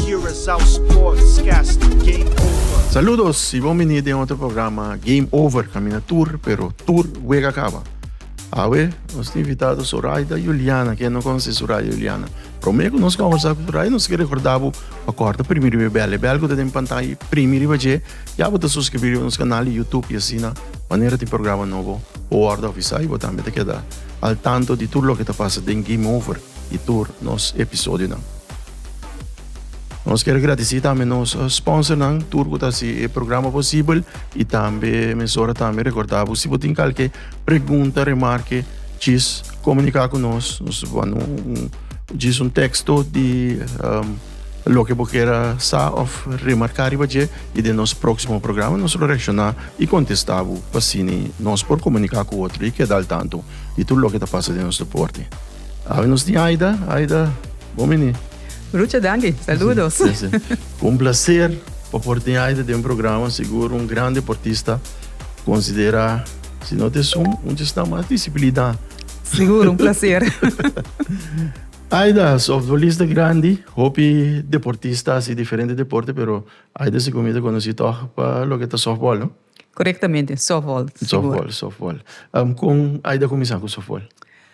Curaçao Sportscast Game Over. Saludos y bon vini den otro programa Game Over, camina tur, pero tur wega caba. Awe, nos invitado Soraida Juliana, que no conoce Soraida Juliana. Promé que nos conversa con Soraida, nos quiere recordar bo, pa corta primi riba bel, bel que den pantalla primi riba je, ya bo ta suscribir riba nos canal di YouTube y asina, manera tin programa nobo, bo wordo avisa y bo tambe ta keda al tanto di tur loke ta pasa den Game Over y tur nos episodionan. Nos ker agradesí tambe nos sponsornan tur ku ta hasi e programa posibel i tambe mesora tambe rekordá bo si bo tin kalke pregunta, remarke, djis komuniká ku nos. Nos ta manda un djis un teksto di loke bo kier sa òf remarká riba dje i den nos próksimo programa nos lo reakshoná i kontestá bo pa asina nos por komuniká ku otro i keda al tantu di tur loke ta pasa den nos deporte. Awe nos tin Aida, Aida bon bini. Rucha danki, saludos. Si, si, si. Cu un placer pa por tin Aida den programa, sigur un gran deportista, considera si no ta esun un chisnan mas disciplina. Sigur, un placer. Aida, softbolista grandi, hopi deportista asi diferente deporte pero Aida si comi ta conoci toch pa loke ta softball no? Correctamente, softball, sigur. Softball, softball. Con Aida cuminsa cu softball?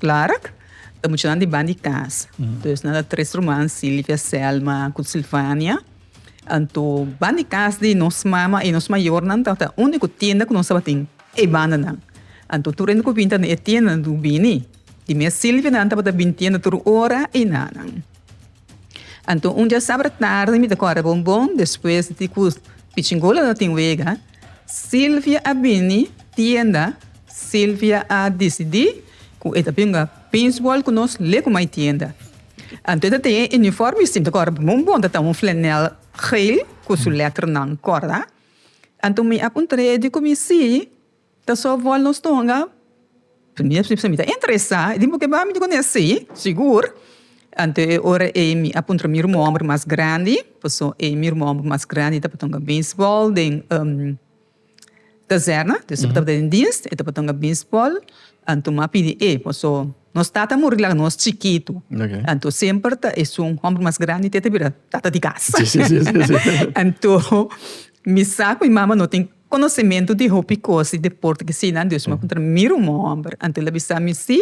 Clara, Ta muchanan di ban di cas. Entonces nan ta tres ruman, Silvia, Selma cu Silvania. Anto ban di cas di nos mama y nos mayornan ta ta unico tienda cu nos tabatin e bandanan. Anto tur hende cu bin ta na e tiendanan tin cu bini. Di mes Silvia nan tabata bin tienda tur ora y nanan. Anto un diasabra tardi mi ta corre bon bon despues di cu Pichingola no tin wega, Silvia a bini tienda, Silvia a disidí ku e ta bin uga pinchbòl ku nos le ku mai tienda. Anto e ta tin e unifòrme i sinti ku ora bon bon ta ta un flanèl geel ku su lèternan kòrda. Anto mi a puntr'é di ku mi sí, ta sòf wòl nos tonga? Mi ta interesá di bo kebá mi dikon esei si sigur anto e ora ei mi a puntra mi ruman hòmber mas grandi pasobra ei mi ruman hòmber mas grandi tabata beisbòl den kazèrna dus e tabata den diens e tabata beisbòl anto mi a pidi e pasobra nos tata a muri laga nos chikitu anto semper ta esun hòmber mas grandi te ta bira tata di kas anto mi sa ku mi mama no tin Konosementu di hopi kos di deporte ke sinan Dios mi a kontra mi rumo hòmber anto el a bisa mi si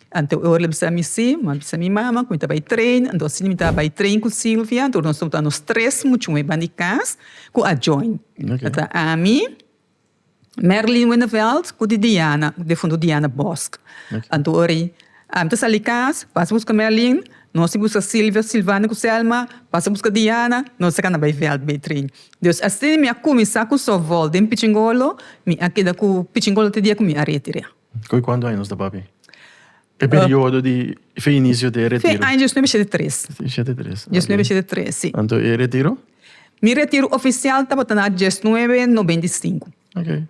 anto e ora el a bisa mi si mi a bisa mi mama ku mi ta bai train anto asina mi ta bai train ku Silvia anto nos ta nos tres muchu meban di kas ku a join a ta ami Merlin Winneveld ku di Diana di fundu Diana Bosk anto ori ami ta sali kas pasa buska Merlin nos si buska Silvia Silvana ku Selma pasa buska Diana nos tres a kanda bai Veldbe train Dios a sini mi a kuminsá ku sòfbòl den pichingolo, mi a keda ku pichingolo te dia ku mi a retira. Ku e kuantu aña nos ta papia? E periodo di fe inicio di e retiro. Fin aña dies nuebe shete tres. Dies shete tres. Dies nuebe shete tres, si. Anto e retiro? Mi retiro oficial tabata na dies nuebe nobenta i sinku. Ok.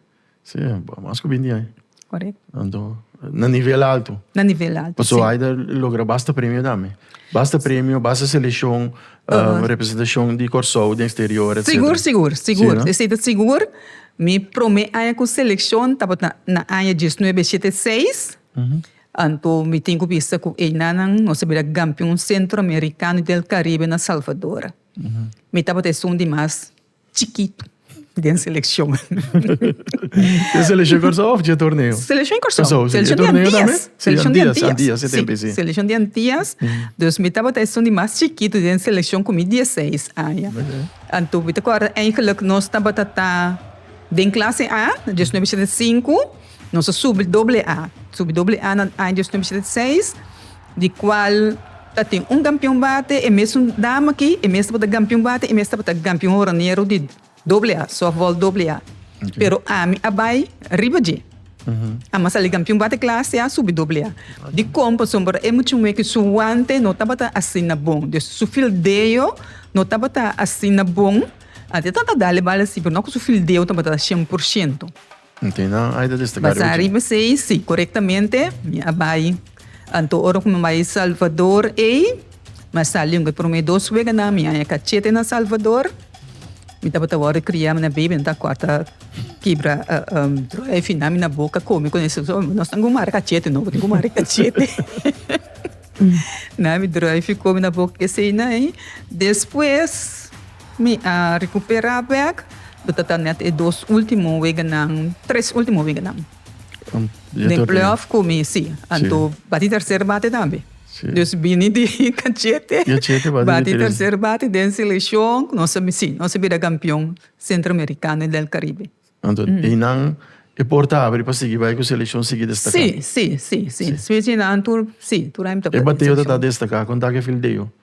Sí, mas cu binti ai. Corect. Anto, na nivel alto. Na nivel alto, Paso sí. Aida logra basta premio tambe. Basta premio, basta seleccion, uh, representacion di Corsou den exterior, etcetera. Sigur, sigur, sigur. Sí, no? Esei ta sigur. Mi prome aña cu seleccion tabata na aña diesnuebe shete seis. Uh -huh. Anto mi tin cu bisa cu einanan nos a bira campeon Centro Americano y del Caribe na Salvador. Uh -huh. Mi tabata esun di mas chikitu den selekshon. Den selekshon Kòrsou òf dje torneo? Selekshon Kòrsou. Selekshon di Antias. Selekshon di Antias. Si, selekshon di Antias. Dus mi tabata esun di mas chikitu den selekshon ku mi dieseis aña. Anto mi ta kòrda eingelik nos tabata ta den klase A, dies noebe shete sinku, nos a subi doble A. Subi doble A na aña dies noebe shete seis. di cual ta tin un campeon bate, e mesun dama aki, e mes tabata campeon bate, e mes tabata campeon horonero di doble A, softball doble A. Pero ami a bai riba dje. Ami a sali campeon bate clase A, subi doble A. Dicon? Pasobra e muchu me aki su wante no tabata asina bon, dus su fildeo no tabata asina bon. Ante ta dale bal asi, pero no cu su fildeo tabata shen por shento. Basá riba esei, sí, korektamente mi a bai. Anto ora ku mi bai Salvador ei, mi a sali un e promé dos weganan, mi haña kachete na Salvador. Mi tabata wòrdu kria, mi na bebe, mi ta kòrta, kibra dròi fina mi na boka kome ku esei. So, nos tin ku mari kachete, no? Tin ku mari kachete. Na mi dròi fikó mi na boka ku eseinan. Despues. Mi a recuperá bek. Mi ta ta net e dos último weganan, tres último weganan den playoff cu mi, sí. Anto bati tercer bate tambe. Dus bini di cachete bati tercer bate den seleccion cu nos a, sí, nos a bira campeon Centroamericano y del Caribe. Anto einan e porta abri pa sigui bai cu seleccion sigui destacá. Sí, sí, sí, sí. Specia einan tur, sí, tur a intra pa seleccion. E bateo ta ta destacá. Con ta cu e fildeo?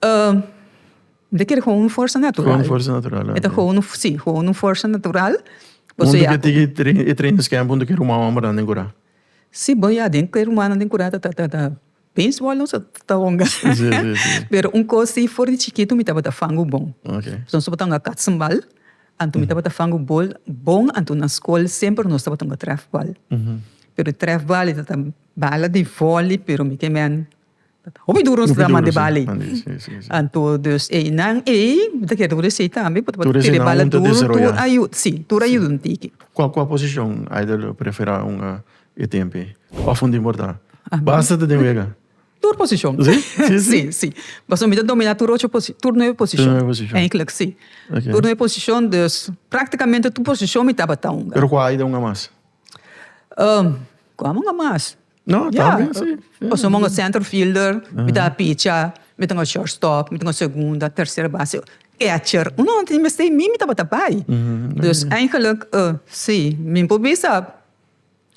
Mester kere gewoon un forsa natural. Gewoon forsa natural, ok. E ta gewoon un, sí, gewoon un forsa natural. Punto ke tiki e training scam punto ke ruman hombrenan den curá. Sí, bo ya den ke rumannan den curá ta baseball no so ta honga. Sí, sí, sí. Pero un cos di for di chikito mi tabata fangu bon. Ok. Entonces bo ta honga katsenbal, anto mi tabata fangu bol bon, anto na skol semper nos tabata honga trèfbal. Pero trèfbal e ta bala di vòli pero mi ke mèn Hopi duru nos grama de bali. Anto dus ei nan ei mi ta kere word'e sei tambe por tabata tere bala duru tur a yuda si tur a yuda un tiki. Kua kua posishon Aidel lo prefera unga e tempe of un tin por ta basta ta den wega? Tur posishon si si pasobra mi ta domina tur ocho posishon tur nuebe posishon eindelijk si tur nuebe posishon dus practicamente tur posishon mi tabata unga. Pero kua Aidel unga mas? Kua mi unga mas? No, ta bien, sí. Pasobra mi un centerfielder, mi ta picha, mi ta un shortstop, mi ta un segunda, tercera base, catcher. Un hora antes di mester mi, mi tabata bai. Dus eigenlijk, sí, mi por bisa,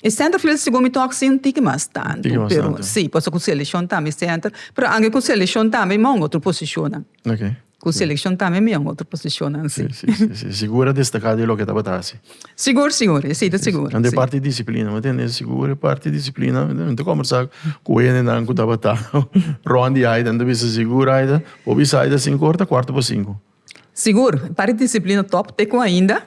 e centerfielder segun mi tok sin tiki mas tantu. Tiki mas tantu. Sí, pasobra ku seleccion tambe e center, pero ange ku seleccion tambe mi a un otro posiciona. Ok. Cu seleccion tambe mi en otro posicionnan si. Si, si, si. Sigur a destaca di loke tabata haci. Sigur, sigur. Esey ta sigur. Si, si. Ande e parti di disciplina, mi tende. Sigur e parti di disciplina. Mi ta combersa cu hendenan cu tabata rond di Aida, mi ta bisa, Sigur, Aida, bo bisa Aida cinco ora ta cuarto pa cinco. Sigur. E parti di disciplina top te cu ainda.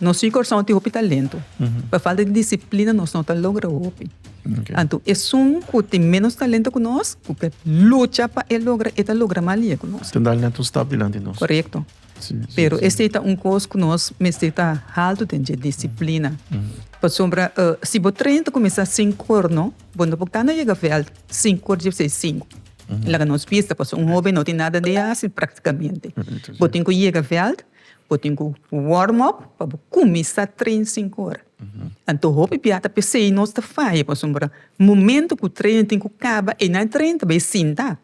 Nos ciu Corsou tin hopi talento. Pa falta di disciplina nos no ta logra hopi. Anto esun cu tin menos talento cu nos, cu ta lucha pa e logra, e ta logra mas lia cu nos. Ta dal net un stap dilanti nos. Corecto. Pero esey ta un cos cu nos mester ta haltu den dje, disciplina. Pasobra si bo train ta cuminsa cinco or no, bo no por cana yega veld cinco or diebsey cinco. Laga nos bista, pasobra un hoben no tin nada de haci practicamente. Bo tin cu yega veld. Bo tin cu warm up pa bo cuminsa train sinku ora. Anto hopi bia ta pesey nos ta faya pasobra momento cu train tin cu caba eynan e train ta bay sinta.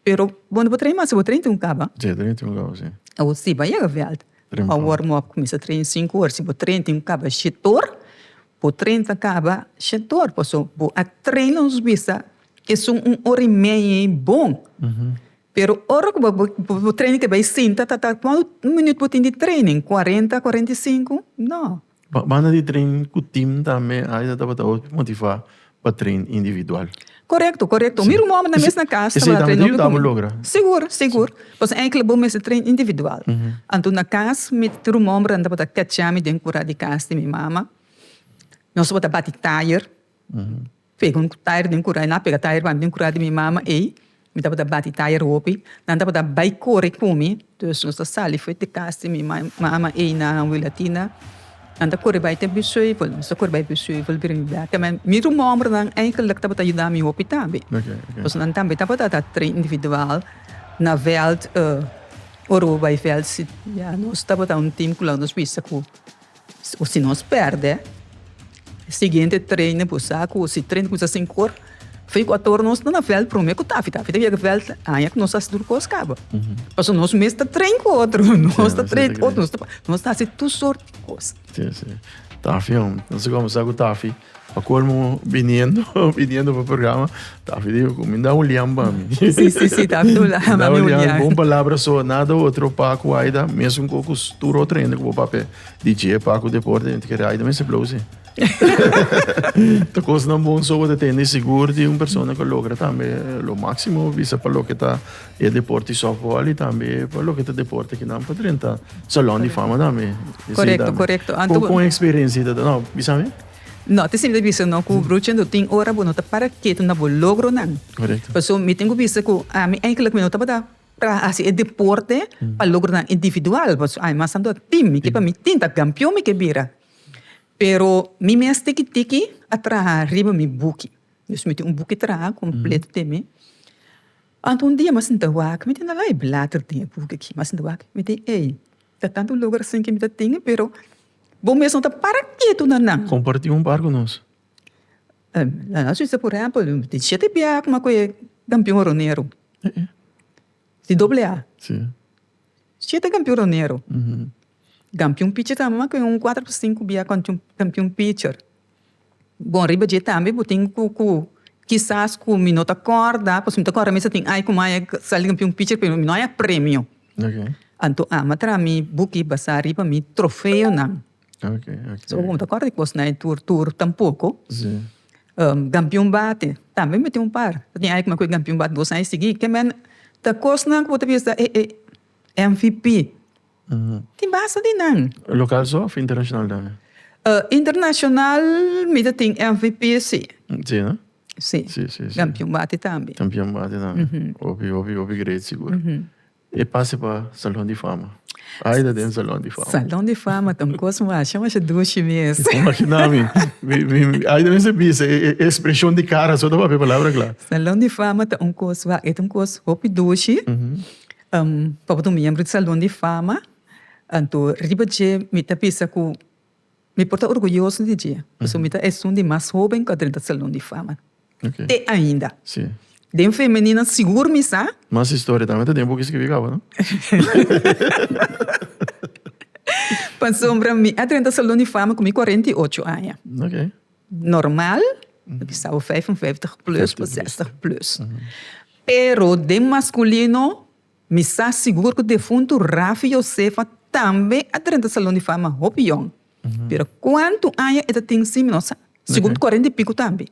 Pero bo no por train mas si bo train tin cu caba. Si, train tin cu caba si. Awor si bo a yega veld pa warm up cuminsa train sinku ora si bo train tin cu caba shete or bo train ta caba shete or pasobra bo a train los bisa esun un ora y media y bon Pero ora ku bo bo training te bai sinta ta ta kuantu minüt bo tin di training? Kuarenta, kuarenta i sinku? No. Banda di training ku tim tambe ai ta tabata bo motivá pa train individual. Korekto, korekto. Mi rumonan nan mes na kas tabata train hopi ku mi. Sigur, sigur. Pasobra enkele bo mester train individual. Anto na kas mi rumonan tabata kachami den kura di kas di mi mama. Nos tabata bati tayer. Pega un tire den kura, e na pega tire banda den kura di mi mama ei, mi tabata bati tire hopi, nan tabata bai kore ku mi, dus nos ta sali fuet di kas di mi mama ei na Wilatina, nan ta kore bai te Busheuvel, nos ta kore bai Busheuvel bira mi blak, tambe mi rumombrenan eigenlijk tabata yuda mi hopi tambe, pasobra nan tambe tabata ta train individual na veld, ora bo bai veld si, ya nos tabata un team ku nos bisa ku O si nos pèrdè e siguiente treine por sa ku si treine kuminsá sin kor, fin ku ator nos ta na vèlt promé ku Tafi. Tafi ta yega vèlt aña ku nos hasi tur kos kaba. Pasobra nos mes ta trein ku otro, nos ta trein ku otro, nos ta hasi tur sort di kos. Tafi, nos a kuminsá ku Tafi. Pa colmo biniendo biniendo pa programa Taffy dijo cu mi da un lian pa mi. Sí, sí, sí, Taffy do la da un lian. Bon palabra so nada otro Paco Aida mesmo con cu tur otro hende cu papel DJ Paco deporte hende que Aida mester blow sí. Ta cosnan bon so ta tende seguro di un persona que logra tambe lo máximo bisa pa lo que ta E deporte softball y tambe pa loke ta deporte aki nan pa drenta salon di fama tambe. Correcto, correcto. Anto. Con experiencia ta no bisa mi? No, te siempre bisa no cu brucha do tin ora bo no ta para keto na bo logronan. Correcto. Paso mi tin cu bisa cu ami eigenlijk mi no tabata para haci e deporte pa logronan individual paso ami mas anto a team y pa mi team ta campeon mi ke bira. Pero mi mes tiki tiki a traha riba mi buki. Dus mi tin un buki traha completo te mi. Anto un dia masinta wak mi tin na lay blater den e buki aki. Masinta wak mi tin ey, ta tantu logu asin ke mi ta tin, pero bo mes no ta para ketu na nan. Comparti un par cu nos. La nos bisa por empel, mi tin shete bia coma cu e campeon horonero. Di doble A. Si. Shete campeon horonero. Gampion pichi ta mama cu un cuater to cinco bia campion picher. Bon riba dje tambe bo tin cu cu kisas cu mi no ta corda pasobra mi ta corda mester tin ai cu mai ai sali campion picher pero mi no haya premio. Anto a manda tra mi buki basa riba mi trofeonan. So mi no ta corda di cos na e tur tur tampoco. Gampion bate tambe mi tin un par ta tin ai cu e gampion bate dos ai sigi. Ke men ta cosnan cu bo ta bisa e e mvp. Tin basta di nan. Local so of internacional tambe? Internacional mi ta tin MVP si. Si no? Si. Si, si, si. Campeon bati tambe. Campeon bati tambe. Hopi, hopi, hopi great sigur. E pase pa Salon di Fama. Ai ta den Salon di Fama. Salon di Fama ta un cos masha, masha dushi mes. Imagina mi. Ai ta mester bisa e expresion di cara so ta papia palabra cla. Salon di Fama ta un cos, e ta un cos hopi dushi. Pa bo ta un miembro di Salon di Fama, anto riba dje mi ta bisa ku mi por ta orguyoso di dje, pasobra mi ta esun di mas hoben ku a drenta Salon di Fama te ainda. Den femenino sigur mi sa. Mas historia ta den buki skibi kaba, no? Pasobra mi a drenta Salon di Fama ku mi kuarenta i ocho aña. Normal, pasobra sa bo vijf en vijftig plus bo zestig plus. Pero den masculino mi sa sigur cu defuntu Rafi Josefa tambe a drenta Salon di Fama hopi yong. Pero cuantu aña e ta tin si mi no sa. Sigur cu cuarenta y pico tambe.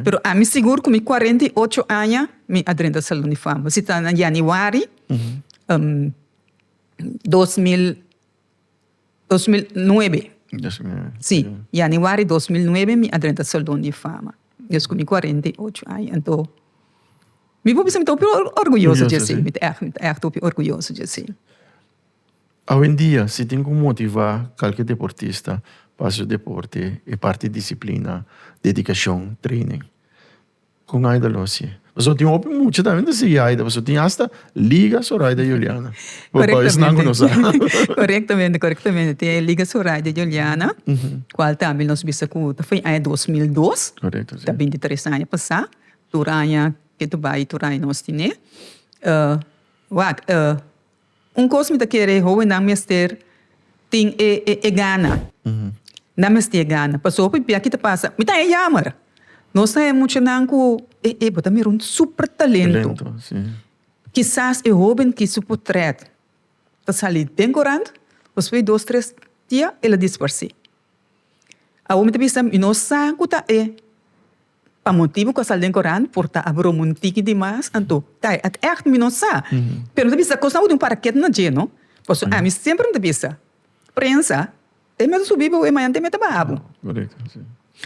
Pero ami sigur cu mi cuarenta y ocho aña mi a drenta Salon di Fama. Si ta na Januari dos mil. Dos mil nuebe, sí, Januari dos mil nuebe mi a drenta e Salon di Fama, despues ku mi kuarenta i ocho aña. Anto, mi por bisa mi ta hopi orguyoso dje esei, mi ta ègt, mi ta ègt hopi orguyoso dje esei. Awendia, si tin ku motivá kalke deportista pa hasi su deporte, e parti disiplina, dedikashon, treinen. Con Aida Losie. Pasobra tin hopi mucha tambe ta sigui Aida, pasobra tin hasta Liga Zoraida Juliana. Pasobra esnan cu no sa. Correctamente, correctamente. Tin e Liga Zoraida Juliana, cual tambe nos bisa cu ta fo'i aña dos mil dos. Correcto, si. Ta binti tres aña pasá. Tur aña, kende ta bai tur aña nos tin'é. Wak, Un kos mi ta kere e howennan mester tin e e gana. Nan mester e gana. Paso hopi bia ki ta pasa, mi ta haña yamer. Nos ta haña muchanan ku e e bo ta mira un super talento. Kisas e hoben ki su potrèt ta sali den korant, pasobra di dos tres dia el a disparsé. Awor mi ta bisa mi no sa ku ta e. Pa motibu ku a sali den korant por ta a broma un tiki di mas, anto kai at ègt mi no sa. Pero mi ta bisa kos na udi un paraket na dje no. Pasobra ami semper mi ta bisa, prensa te mester subi bo e mañan te mester baha bo.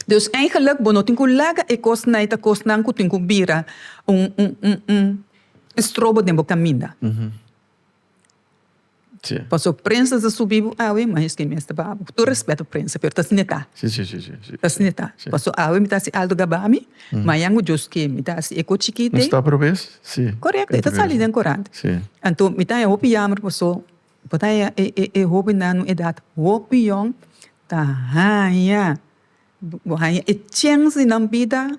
Dus eigenlik bo no tin ku laga e kosnan, e ta kosnan ku tin ku bira un estrobo den bo kaminda. Paso prensa ta subi bo awe ma esaki mester ba bo. Ku tur respeto prensa pero ta sneta. Ta sneta. Paso awe mi ta hasi alto gabami, mañan ku Dios ken mi ta hasi eko chikiti. No sta probes? Si. Korekto, e ta sali den korant. Si. Anto mi ta haña hopi yamber paso bo ta haña e hobennan un edat hopi yòn ta haña, bo haña e chense nan bida.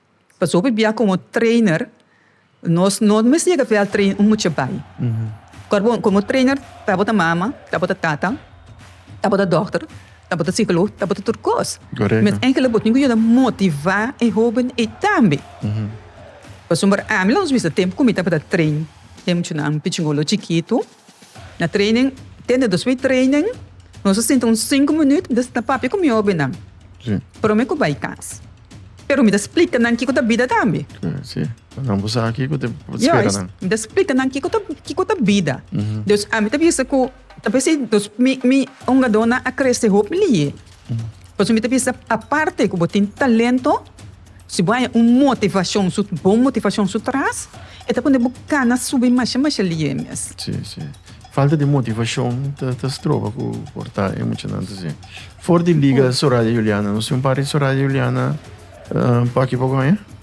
Pasobra bia komo trainer nos no mester yega veld train un mucha bai. Kor bo komo trainer ta bo ta mama, ta bo ta tata, ta bo ta dokter, ta bo ta sikolog, ta bo ta tur kos. Met enkel bo tin ku yuda motivá e hóben ei tambe. Pasobra ami lo nos bisa tempu ku mi tabata train e muchanan pichingolo chikitu. Na training, te na dos mi training, nos a sinta un sinku minuut disna ta papia ku mi hobennan. Promé ku bai kas. Pero mi ta splika nan kiko ta bida tambe. Sí, pa nan por sa kiko ta spera nan. Mi ta splika nan kiko ta kiko ta bida. Dus ami ta bisa ku ta por esi dos mi mi hongadónan a krese hopi liye. Pasobra mi ta bisa aparte ku bo tin talento, si bo haña un motivashon, su bon motivashon su tras, e ta pone bo gana subi masha masha liye mes. Sí, sí. Falta di motivashon ta ta stroba ku por ta e muchanan ta haci. For di Liga Soraya Juliana nos tin un par di Soraya Juliana pa aki pa Goña?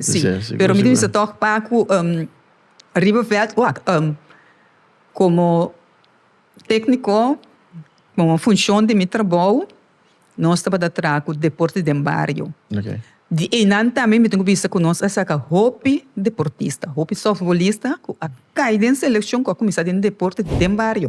Sí, pero mi ta bisa tòg paku riba vèt wak komo tèkniko komo funshon di mi trabou nos tabata traha ku deporte den bario. Di einan tambe mi ta bisa ku nos a saka hopi deportista, hopi sòftbolista ku a kai den selekshon ku a kuminsá den deporte den bario.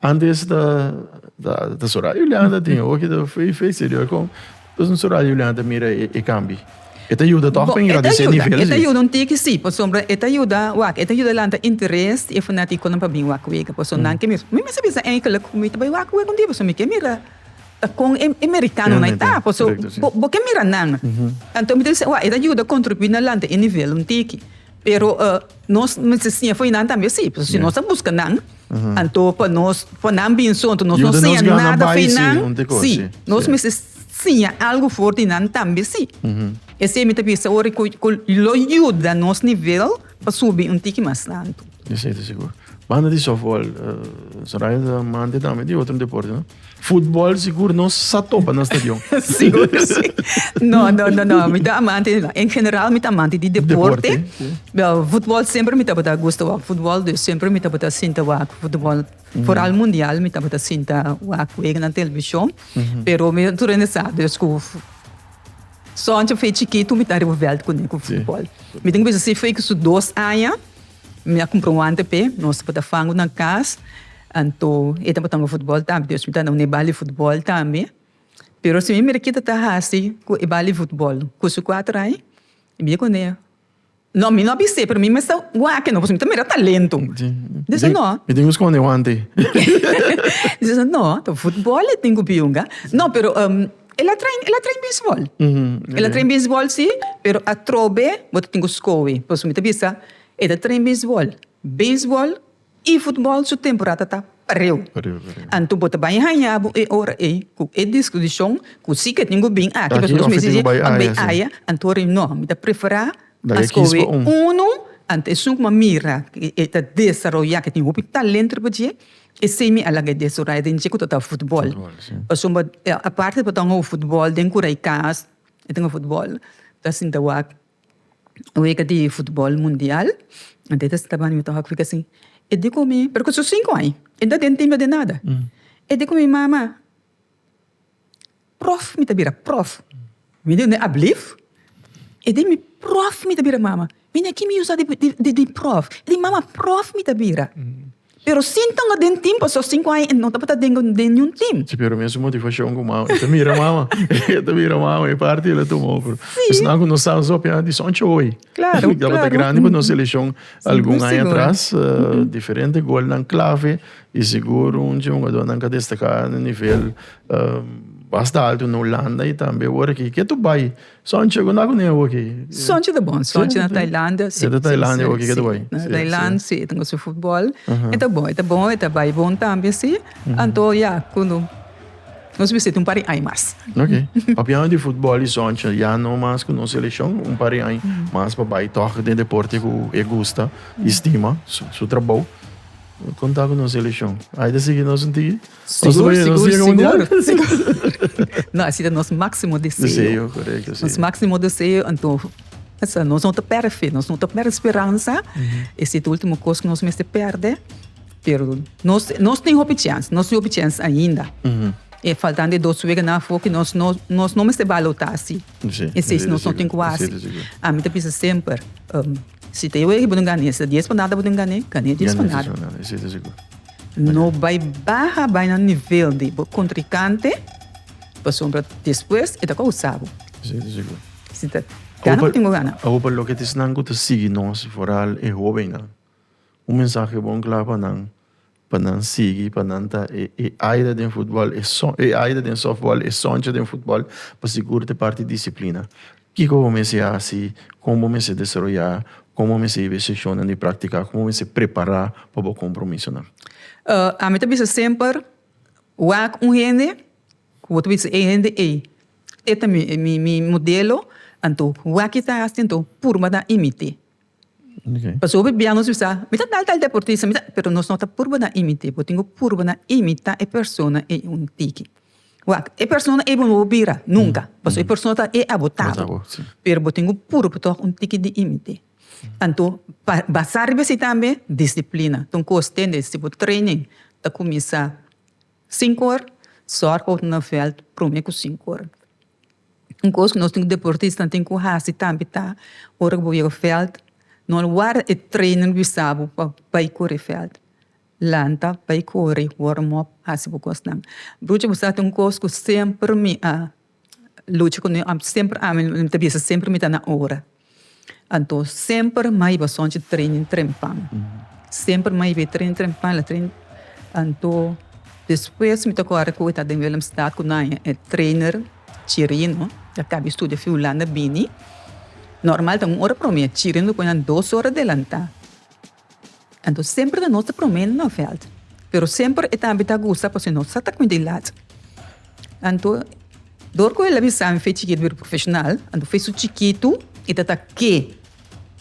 Antes ta ta Soraya Juliana tin oki ta fei fei serio kon Entonces Soraya Juliana ta mira e, e cambi. E ta ayuda toch pa ingrandece e nivel. E ta ayuda un tiki si, pasobra e ta ayuda wak, e ta ayuda lanta interes di e fanaticonan pa bin wak wega. Por eso nan ke mira, mi mester bisa eigenlijk ku mi ta bai wak wega un dia pasobra mi ke mira ta kon e mericanonan ta. Por eso bo ke mira nan. Anto mi ta bisa wak e ta ayuda contribui na lanta e nivel un tiki. Pero nos mester siña for nan tambe si, pasobra si nos ta buska nan, anto pa nos for nan bin so anto nos no siña nada for nan, si nos mester siña algu for di nan tambe si. Esei mi ta bisa ora ku lo yuda nos nivel pa subi un tiki mas alto. Esei ta sigur. Banda di softball, Soraya ta manda tambe di otro deporte, no? Futbol sigur no sa topa na stadion. Sigur que sí. No, no, no, no. Mi ta amante, en general mi ta amante di deporte. Deporte. Futbol semper mi tabata gusta wak futbol, dus semper mi tabata sinta wak futbol. Foral mundial mi tabata sinta wak wega na televishon. Pero mi tur a sa dus ku sònche fe chikitu mi ta riba vèlt kuné ku futbol. Mi tin bisa si fe ku su dos aña. Mi a cumpra un wante p'e, nos tabata fango na cas, anto e tabata hunga futbol tambe, dus mi ta duna e bal di futbol tambe. Pero si mi mira kita ta haci cu e bal di futbol cu su cuater aña, mi bia cun'e, no, mi no a bis'e, pero mi mester wak no, pasobra mi ta mira talento. Mi tin, mi tin cu sconde e wante. Mi ta bisa, no, ta futbol e tin cu biunga. No, pero. El a train, el a train beisbol. El a train beisbol, sí, pero atrobe bo ta tin ku skohe. Pasobra mi ta bisa e ta train beisbol. Beisbol i futbol su temporada ta pariu. Pariu, pariu. Anto bo ta bai haña bo e ora ei ku e diskutishon ku si ke tin ku bin aki Aki pasobra of mi ke tin ku si bai bai aya, sí. aya, anto ora ei no. Mi ta preferá Da e kis pa un. skohe unu anto esun ku mi a mira ku e ta desaroyá, ku e tin hopi talento riba dje. E semi a laga e deso raya den dje ku ta tabata futbòl. Pasobra a parti pa ta un hou futbòl den Kurai Kaas e tin hou futbòl. Ta sinta wak wega di futbòl mundial. Anto e ta sinta wak mi ta wak fika si e diko mi, pero ku su sinku ai. E nta den timba den nada. E diko mi, Mama. Prof mi ta bira prof mi di unde ablief e di mi prof mi ta bira mama mi di aki mi usa di prof e di mama prof mi ta bira pero sin tonga den tim paso sinku aña e no tabata den niun tim. Si pero mi su motivashon ku mama e ta mira mama e ta mira mama e parti el a tuma pero esnan ku no sa nos hopi anti son choi tabata grandi pa nos selekshon algun aña atras diferente golnan klave Di seguro un dje hungadónan ka destaká na nivel mas ta altu na Hulanda i tambe oor aki. Ke ta bai Sontje? Kunda ku nea oor aki? Sontje ta bon, Sontje na Tailanda si. Na Tailanda oor aki ke ta bai. Na Tailand si, e ta gosta futbol. E ta bon, e ta bon, e ta bai bon tambe si. Anto ya ku no nos bisita un par di aña mas. Ok, papiando di futbol i Sontje, ya no mas ku no selekshon un par di aña mas pa bai tòg den deporte ku e gusta i stima, su trabou. Konta ku nos elishon. Ai ta sigui nos nti? Sigur, sigur, sigur. No, asi ta nos máksimo deseo. Deseo, korekto, si. Nos máksimo deseo, anto, esa, nos no ta pèrdè fe, nos no ta pèrdè speransa. E si ta último kos ku nos mester pèrdè. Pero nos, nos tin hopi chèns, nos tin hopi chèns ainda. E faltando e dos weken afó ku nos no, nos no mester balo ta asi. Esei nos no tin ku a hasi. Ami ta bisa semper, si ta yoe bo tin gane, esta dies panada bo tin gane, gane dies panada. No bai baha bai na nivel di bo kontrikante, pasobra despues e ta kousa bo. Si ta gana bo tin ku gana. Awope loke ta esnan ku ta sigui nos, foral e hobennan. Un mensahe bon kla pa nan pa nan sigui pa nan ta e e aida den futbòl e son e aida den sòftbòl e sònchi den futbòl pa sigur ta e parti disiplina kiko bo mester hasi kon bo mester desaroyá kon bo mester hib'e sheshonnan di praktiká kon bo mester prepará pa bo kompromisonan. Ami ta bisa semper wak un hende ku bo ta bisa e hende ei e ta mi mi mi modelo anto wak e ta hasi anto purba ta imit'é. Pasobra e biaha nos bisa, mi ta tal tal deportista, mi ta, pero nos no ta purba na imit'é, bo tin ku purba na imita e persona ei un tiki. Wak, e persona ei bo no bo bira nunka, pasobra e persona ta e abo tabel, pero bo tin ku purba tòg un tiki di imit'é. Anto, pa basá riba esei tambe, disiplina ta un kos tende, si bo training ta kuminsá sinku or, sòrg bo ta na vèlt promé ku sinku or. Un cos cu nos tin cu deportistanan tin cu haci tambe ta ora cu bo yega veld no lo ward e trainer wisa bo pa bay cori veld lanta bay cori warm up haci bo cosnan brujo bo sa tin un cos cu semper mi a lucha cu mi semper ami ta bisa semper mi ta na ora. Anto semper mai bo sonchi training trempan. Semper mai be training trempan la training anto despues mi ta kòrda ku e ta den Willemstad ku nan e trainer Chirino a kaba di studia fi Hulanda bini. Normal ta un ora promé, Chirino lo pone nan dos ora delantá. Anto semper ta nos ta prome na nan veld, pero semper e tambe ta gusta pasobra nos sa ta cuinta e lat. Anto dor cu el a bisa mi fei chikit word profesional, anto fei su chikitu y ta ta ke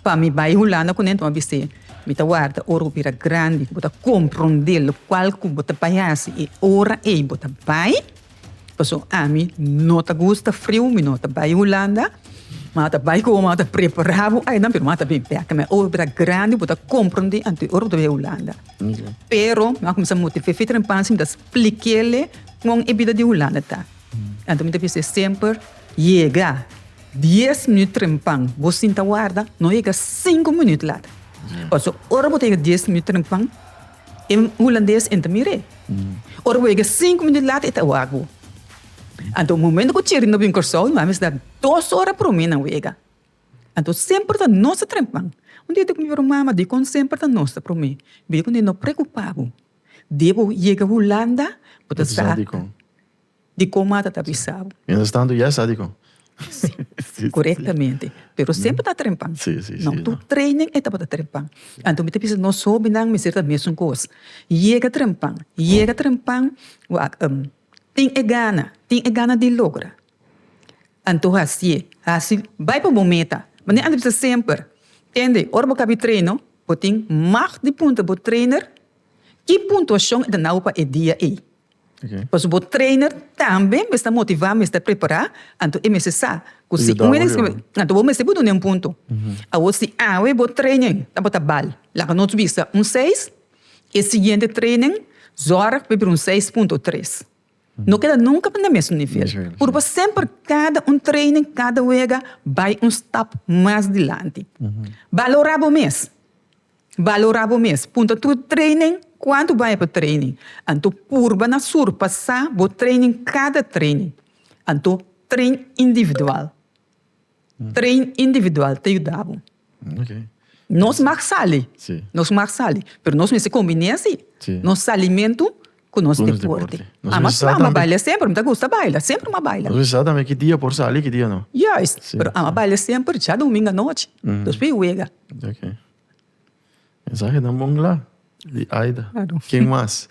pa mi bay Hulanda cu nento a bis'e mi ta warda ora bo bira grandi cu bo ta compronde locual cu bo ta bay haci y ora ey bo ta bay. Pasobra ami no ta gusta friu, mi no ta bai Hulanda. M'a ta bai komo m'a ta prepará bo ainan, pero m'a ta bin bèk. Mi a obe bo ta grandi, bo ta komprondí anto e ora bo ta bai Hulanda. Pero mi a kuminsá motiv'é Fitri den panshi, mi ta splik'éle kon e bida di Hulanda ta. Anto mi ta bis'é semper, yega dies minüt trempan, bo sinta warda, no yega sinku minüt lata. Pasobra ora bo ta yega dies minüt trempan, E hulandes enta mir'é. Ora wega e sinku minut lata e ta wak bo. Anto momento ku Thierry no bin Kòrsou i no a mester ta dos ora promé nan wega. Anto semper ta nos ta trempan. Un dia e tok mi ora, Mama, dikon semper ta nos ta promé? Bida kende no preokupá bo. Dia ku bo yega Hulanda bo ta sa. di kon Mata ta bisa bo. Mientras tanto ya sa di kon. Si, korektamente. Pero semper ta trempan. No tur training e tabata trempan. Anto mi ta bisa nos hobinan mester ta mesun kos. Yega trempan, yega trempan tin e gana, tin e gana di logra. Anto hasié, hasi, bai pa bo meta. Mi a bisa semper, kende ora bo kabi treino, bo tin mag di puntra bo trainer ki puntuashon e ta nau pa e dia ei. Pasobra bo trainer tambe mester motivá, mester prepará, anto e mester sa ku si un hende skirib'é, anto bo mester duna un punto. Awor si awe bo training tabata bal, laga nos bisa un seis, e siguiente training sòrg pa e bira un seis punto tres. No keda nunka na mesun nivel, puru pa semper kada un training, kada wega bai un stap mas dilanti. Balorá bo mes. Valorá bo mes. Punta tur training kuantu bai pa training. Anto purba na surpasá bo training kada training. Anto train individual. Train individual ta yuda bo. Nos mag sali, nos mag sali pero nos mester kombiné si nos salimentu. ku nos deporte. Ama ku ama a baila semper, mi ta gusta baila, semper mi a baila. Nos bisa tambe ki dia por sali, ki dia no. Juist, pero ama baila semper ja domingo anochi, dos pi wega. Ok. Mensahenan bon kla di Aida. Ken mas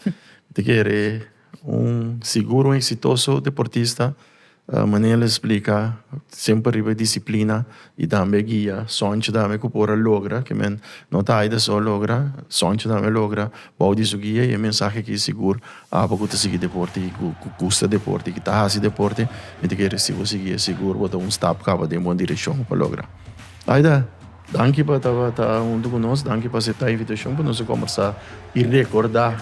ta kere un sigur un eksitoso deportista. Manel a splika, semper riba e disiplina i tambe guia Sonchi tambe ku por a logra ke men no ta Aida so logra, Sonchi tambe logra bou di su guia i e mensahe aki sigur apa ku ta sigui deporte i ku gusta deporte i ku ta hasi deporte mi ta kere si bo sigui e sigur bo ta un stap kaba den bon direkshon pa logra. Aida danki pa tabata huntu ku nos, danki pa aseptá e invitashon pa nos a kombersá i rekorda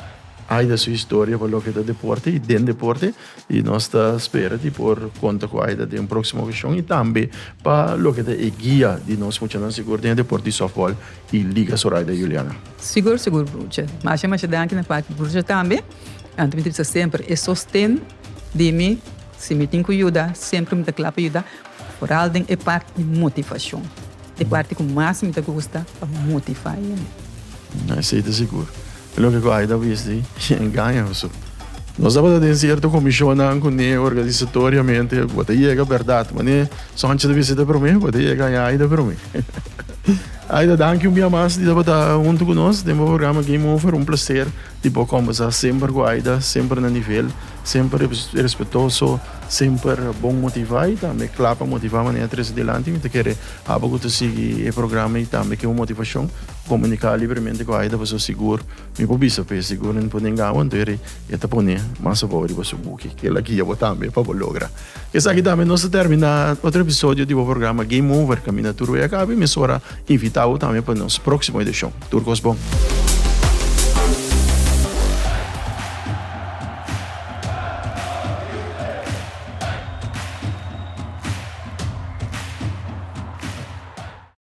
Aida su historia pa loke ta deporte i den deporte I nos ta spera di por konta ku Aida den un próksimo okashon i tambe pa loke ta e guia di nos muchanan sigur den e deport di sòftbòl i liga Zoraida i Juliana. Sigur sigur brucha. Masha masha danki na parti brucha tambe. Anto mi ta bisa semper e sosten di mi si mi tin ku yuda semper mi ta kla pa yuda foral den e parti motivashon. E parti ku mas mi ta gusta pa motiva hende. Esei ta sigur. E loke ku Aida wis di i engaña Josué. Nos tabata den sierto komishonnan ku ni organisatoriamente bo ta yega bèrdat. Manera Sancho ta bisita promé, bo ta yega haña Aida promé. Aida, danki un bia mas di tabata huntu ku nos den bo programa Game Over. Un plaser di por kòmbersá semper ku Aida, semper na nivel. Semper respetoso, semper bon motivá i tambe kla pa motivá manera trese dilanti. Mi ta kere abo ku ta sigui e programa i tambe keu motivashon komuniká libremente ku Aida pasobra sigur mi por bisa p'e sigur mi no por denga'bo anto e ta pone mas abou riba su buki. Kila guia bo tambe pa bo logra. Esaki ta nos a termina otro episodio di bo programa Game Over, Caminda Tur Way a Caba y mes ora invita bo tambe pa nos proximo edicion. Tur cos bon.